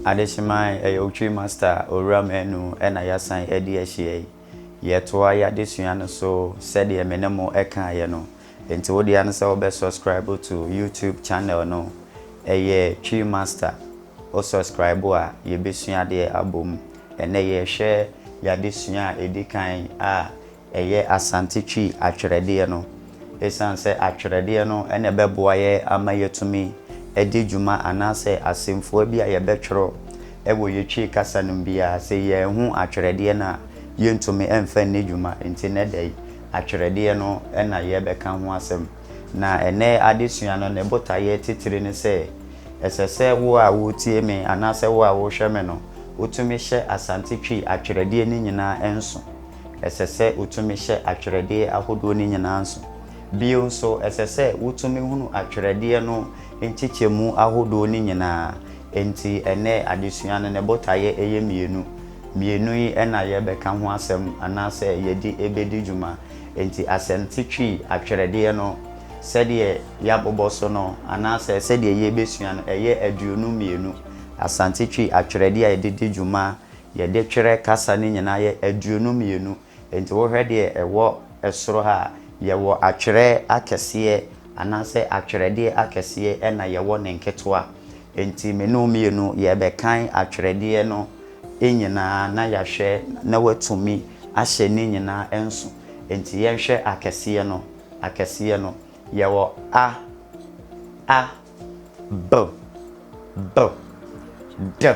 Adehyemai ɛyɛ Otwi Master Owura Manu na yɛasan adi ahyia yi. Yɛtoa yɛn adesua no so sɛdeɛ me ne mo kaeɛ no. Nti wo dea ne sɛ wobɛ subscribe to YouTube channel no, ɛyɛ Twi Master. Wo subscribe a, yɛbɛsua adeɛ abom. Ɛnnɛ yɛrehwɛ yɛn adesua a ɛdi kan a Ɛyɛ Asante Twi atwerɛdeɛ no. Ɛsiane sɛ atwerɛdeɛ no na ɛbɛboa yɛ ama yɛatumi adi dwuma anaasɛ asɛmfua bi a yɛbɛtwerɛ wɔ yɛ Twi kasa no mu biara, sɛ yɛanhu atwerɛdeɛ no a, yɛntumi mfa nni dwuma. Nti nnɛ da yi, atwerɛdeɛ no na yɛrebɛka ho asɛm. Na ɛnnɛ adesua no, ne botaeɛ titire ne sɛ, ɛsɛ sɛ wo a woretie me anaasɛ wo a worehwɛ me no, wotumi hyɛ Asante Twi atwerɛdeɛ no nyinaa nso. Ɛsɛ sɛ otumi hyɛ atwerɛdeɛ ahodoɔ no nyinaa nso. Bio nso, ɛsɛ sɛ wotumi hunu atwerɛdeɛ no nkyekyɛmu ahodoɔ no nyinaa. Enti ɛnnɛ adesua no, ne botaeɛ yɛ mmienu. Mmienu yi na yɛrebɛka ho asɛm anaasɛ yɛde bɛdi dwuma. Enti asɛmti Twi atwerɛdeɛ no, sɛdeɛ yɛabobɔ so no anaasɛ sɛdeɛ yɛrebɛsua no, ɛyɛ aduonu mmienu. Asante Twi atwerɛdeɛ a yɛde di dwuma Yɛde twerɛ kasa no nyinaa yɛ aduonu mmienu. Enti wohwɛ deɛ ɛwɔ soro ha a, yɛwɔ atwerɛ akɛseɛ anaasɛ atwerɛdeɛ akɛseɛ ɛna yɛwɔ ne nketewa. Enti me ne wo mmienu yɛbɛkan atwerɛdeɛ no nyinaa na yɛahwɛ na woatumi ahyɛ ne nyinaa nso. Enti yɛnhwɛ akɛseɛ no, akɛseɛ no. Yɛwɔ a, a, b, b, d.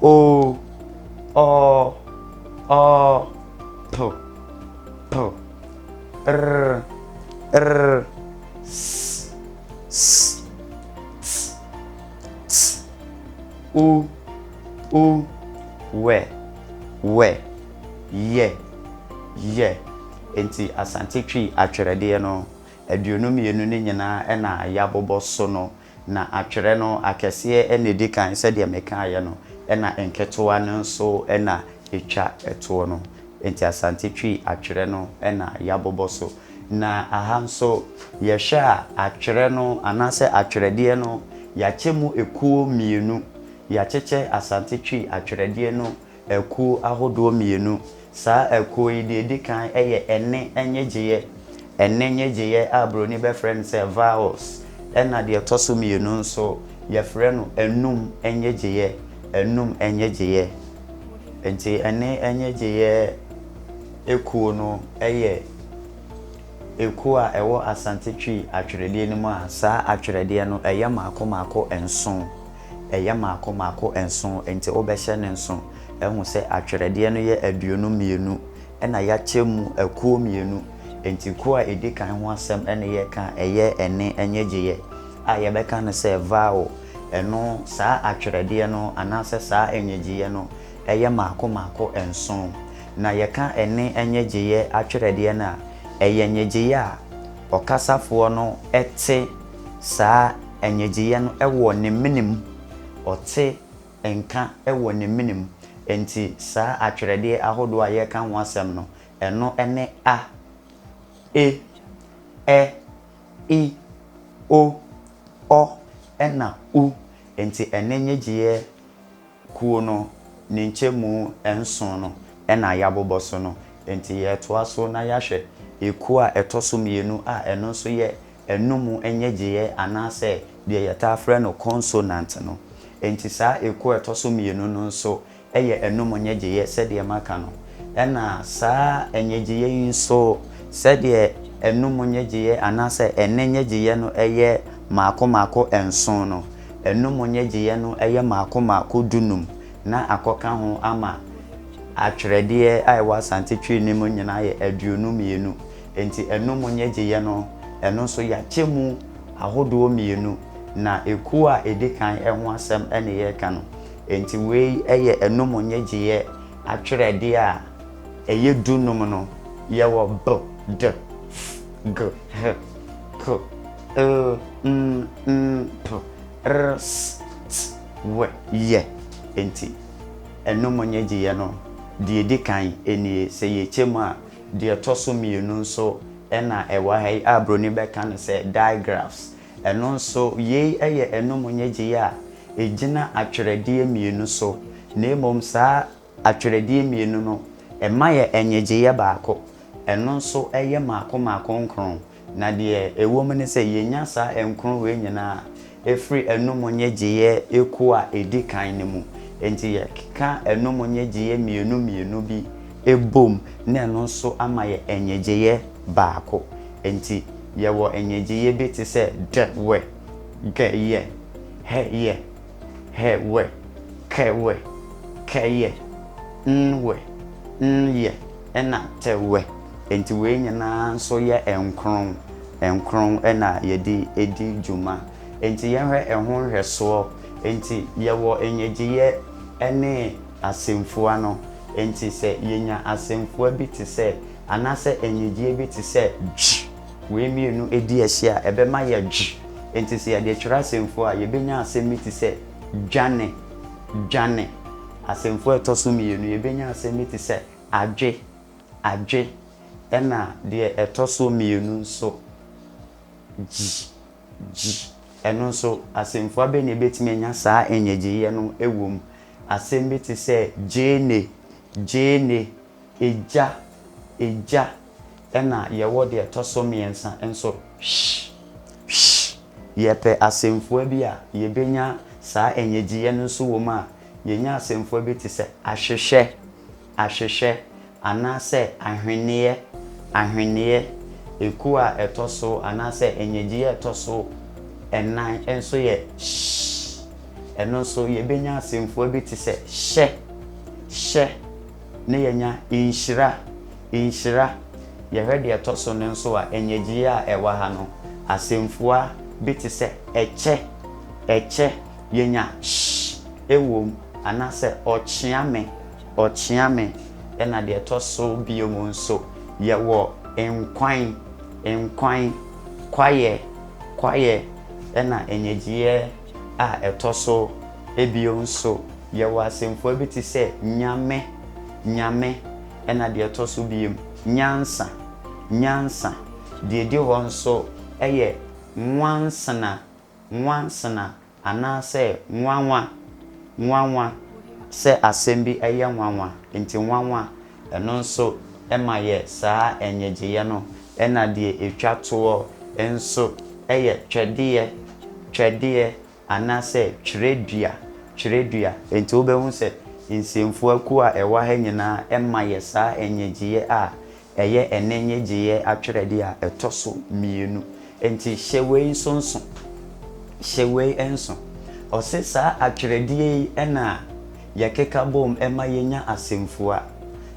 Oh, oh, oh, po, po, rr, rr, ss, ss, ts, ts, u, u, wɛ, wɛ, yɛ, yɛ. Enti Asante Twi atwerɛdeɛ no aduonu mmienu no nyinaa na yɛabobɔ so no Na atwerɛ no, akɛseɛ na ɛdi kan, sɛdeɛ mekaeɛ no, ɛna nketewa no nso na ɛtwa toɔ no. Enti Asante Twi atwerɛ no na yɛabobɔ so. Na aha nso, yɛhwɛ a, atwerɛ no anaasɛ atwerɛdeɛ no, yɛakyɛ mu ɛkuo mmienu. Yɛakyekyɛ Asante Twi atwerɛdeɛ no Akuo ahodoɔ mmienu. Saa akuo yi, deɛ ɛdi kan yɛ ɛnne nnyegyeeɛ, ɛnne nnyegyeeɛ a buroni bɛfrɛ no sɛ vowels, ɛna deɛ ɛtɔ so mmienu nso, yɛfrɛ no anum nnyegyeeɛ, anum nnyegyeeɛ. Enti ɛnne nnyegyeeɛ akuo no yɛ akuo a ɛwɔ Asante Twi atwerɛdeɛ no mu a saa atwerɛdeɛ no ɛyɛ mmaako mmaako nson. Ɛyɛ mmaako mmaako nson, enti wobɛhyɛ no nson. Ahu sɛ atwerɛdeɛ no yɛ aduonu mmienu na yɛakyɛ mu akuo mmienu. Enti kuo a ɛdi kan ho asɛm na yɛreka a, ɛyɛ ɛnne nnyegyeeɛ a yɛbɛka no sɛ vowel. Ɛno, saa atwerɛdeɛ no anaasɛ saa nnyegyeeɛ no yɛ mmaako mmaako nson. Na yɛka ɛnne nnyegyeeɛ atwerɛdeɛ no a, ɛyɛ nnyegyeeɛ a ɔkasafoɔ no te Saa nnyegyeeɛ no wɔ ne mene mu, ɔte nka wɔ ne mene mu. Enti saa atwerɛdeɛ ahodoɔ a yɛreka ho asɛm no, ɛno ne a, e, ɛ, i, o, ɔ, ɛnna u. Enti ɛne nnyegyeeɛ Kuo no ne nkyɛmu nson no na yɛabobɔ so no, enti yɛretoa so na yɛahwɛ ekuo a ɛtɔ so mmienu a ɛno nso yɛ anum nnyegyeeɛ anaasɛ deɛ yɛtaa frɛ no consonant no. Enti saa ekuo a ɛtɔ so mmienu no nso yɛ anum nnyegyeeɛ sɛdeɛ maka no. Ɛna saa nnyegyeeɛ yi nso sɛdeɛ anum nnyegyeeɛ anaasɛ ɛnne nnyegyeeɛ no yɛ mmaako mmaako nson no, Ɛno mu nnyegyeeɛ no yɛ mmaako mmaako dunum na akɔka ho ama atwerɛdeɛ a ɛwɔ Asante Twi no mu nyinaa yɛ aduonu mmienu. Enti ɛno mu nnyegyeeɛ no, ɛno nso yɛakyɛ mu ahodoɔ mmienu, na ekuo a ɛdi kan ho asɛm na yɛreka no. Enti wei yɛ ɛno mu nnyegyeeɛ atwerɛdeɛ a ɛyɛ dunum no. Yɛwɔ, b, d, f, g, h, k. er, mm, mm, p, r, s, t, w, yɛ. Enti, ɛno mu nnyegyeeɛ no, deɛ ɛdi kan nie, sɛ yɛkyɛ mu a, deɛ ɛtɔ so mmienu nso na ɛwɔ ha yi a buroni bɛka no sɛ digraphs. Ɛno nso, yei yɛ ɛno mu nnyegyeeɛ a ɛgyina atwerɛdeɛ mmienu so, na mmom saa Atwerɛdeɛ mmienu no, ɛma yɛ nnyegyeeɛ baako. Ɛno nso yɛ mmaako mmaako nkron, na deɛ ɛwɔ mu ne sɛ yɛnya saa nkron wei nyinaa firi anum nnyegyeeɛ kuo a ɛdi kan no mu. Enti yɛkeka anum nnyegyeeɛ mmienu mmienu bi bom na ɛno nso ama yɛ nnyegyeeɛ baako. Enti yɛwɔ nnyegyeeɛ bi te sɛ dɛ-wɛ, gɛ-yɛ, hɛ-yɛ. hɛ wɛ, kɛ wɛ, kɛ yɛ, n wɛ, n yɛ, ɛna tɛ wɛ. Enti wei nyinaa nso yɛ nkron nkron na yɛde di dwuma. Enti yɛnhwɛ ɛho nhwɛsoɔ. Enti yɛwɔ nnyegyeeɛ ne asɛmfua no. Enti sɛ yɛnya asɛmfua bi te sɛ, anaasɛ nnyegyeeɛ bi te sɛ, dwi. Wei mmienu di ahyia a, ɛbɛma yɛadwo. Enti sɛ yɛde twerɛ asɛmfua a, yɛbɛnya asɛm bi te sɛ dwane, dwane. Asɛmfua a ɛtɔ so mmienu, yɛbɛnya asɛm bi te sɛ adwe, adwe. Ɛnna deɛ ɛtɔ so mmienu nso, gyi, gyi. Ɛno nso, asɛmfua bɛn na ɛbɛtumi anya saa nnyegyeeɛ no wom? Asɛm bi te sɛ gyeene, gyeene. Egya, egya, ɛna yɛwɔ deɛ ɛtɔ so mmiɛnsa nso, hwsh, hwsh. Yɛpɛ asɛmfua bi a yɛbɛnya saa nnyegyeeɛ no nso wɔ mu a, yɛnya asɛmfua bi te sɛ ahwehwɛ, ahwehwɛ, anaasɛ ahweneɛ, ahweneɛ. Ekuo a ɛtɔ so anaasɛ nnyegyeeɛ a ɛtɔ so nnan nso yɛ hwsh. Ɛno nso yɛbɛnya asɛmfua bi te sɛ hyɛ, hyɛ. Ne yɛnya nhyira, nhyira. Yɛhwɛ deɛ ɛtɔ so no nso a, nnyegyeeɛ a ɛwɔ ha no, asɛmfua bi te sɛ ɛkyɛ, ɛkyɛ, yɛnya sh wɔ mu, anaasɛ ɔkyea me, ɔkyea me. Ɛna deɛ ɛtɔ so bio mu nso, yɛwɔ nkwan, nkwan, kwaeɛ, kwaeɛ, ɛna nnyegyeeɛ a ɛtɔ so abien nso, yɛwɔ asɛmfua bi te sɛ nyame, nyame, ɛnna deɛ ɛtɔ so abien, nyansa, nyansa. Deɛ ɛdi hɔ nso yɛ nwansena, nwansena, anaasɛ nwanwa, nwanwa, sɛ asɛm bi yɛ nwanwa. Enti nwanwa Ɛno nso ma yɛ saa nnyegyeeɛ no na deɛ ɛtwa toɔ nso yɛ twɛdeɛ, twɛdeɛ anaasɛ twerɛdua, twerɛdua. Enti wobɛhu sɛ nsɛmfua kuo a ɛwɔ ha nyinaa ma yɛ saa nnyegyeeɛ a ɛyɛ ɛnnɛ nnyegyeeɛ atwerɛdeɛ a ɛtɔ so mmienu. Enti hyɛ wei nso nso, hyɛ wei nso. Ɔse saa atwerɛdeɛ yi na. yɛkeka bom ma yenya asɛmfua,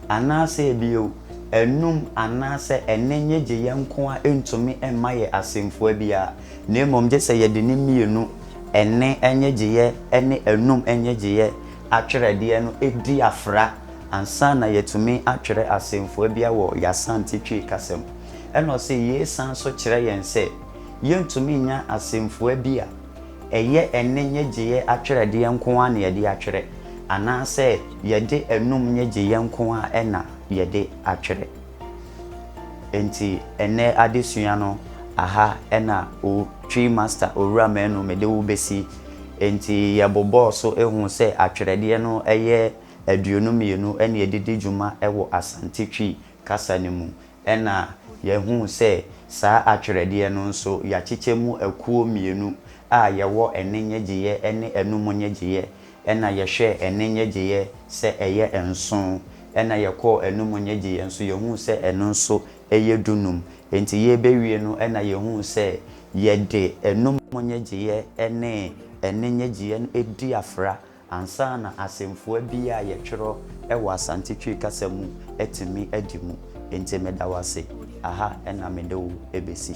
anaasɛ bio, anum anaasɛ ɛne nnyegyeeɛ nko ara ntumi mma yɛn asɛmfua biara, na mmom gye sɛ yɛde ne mmienu, ɛne nnyegyeeɛ ne anum nnyegyeeɛ atwerɛdeɛ no di afra ansa na yɛatumi atwerɛ asɛmfua biara wɔ yɛn Asante Twi kasa mu. Ɛna ɔse, Yei san nso kyerɛ yɛn sɛ yɛntumi nnya asɛmfua bi a. Ɛyɛ ɛnne nnyegyeeɛ atwerɛdeɛ nko ara na yɛde atwerɛ, anaasɛ yɛde anom nnyegyeeɛ nko ara na yɛde atwerɛ? Enti ɛnnɛ adesua no, aha na O Twi Master Owura Manu mede wo bɛsi. Enti yɛbobɔɔ so huu sɛ atwerɛdeɛ no yɛ aduonu mmienu na ɛde di dwuma wɔ Asante Twi kasa no mu. Ɛnna yɛhuu sɛ saa atwerɛdeɛ no nso, yɛakyekyɛ mu akuo mmienu, a yɛwɔ ɛnne nnyegyeeɛ ne anum nnyegyeeɛ. Ɛnna yɛhwɛɛ ɛnne nnyegyeeɛ sɛ ɛyɛ nson, ɛnna yɛkɔɔ anum nnyegyeeɛ nso, yɛhuu sɛ ɛno nso yɛ dunum. Enti yɛrebɛwie no, ɛnna yɛhuu sɛ yɛde anum nnyegyeeɛ ne ɛnne nnyegyeeɛ no di afra Ansa na asɛmfua bi a yɛtwerɛ wɔ Asante Twi kasa mu atumi adi mu. Enti meda wo ase. Aha na mede wo bɛsi.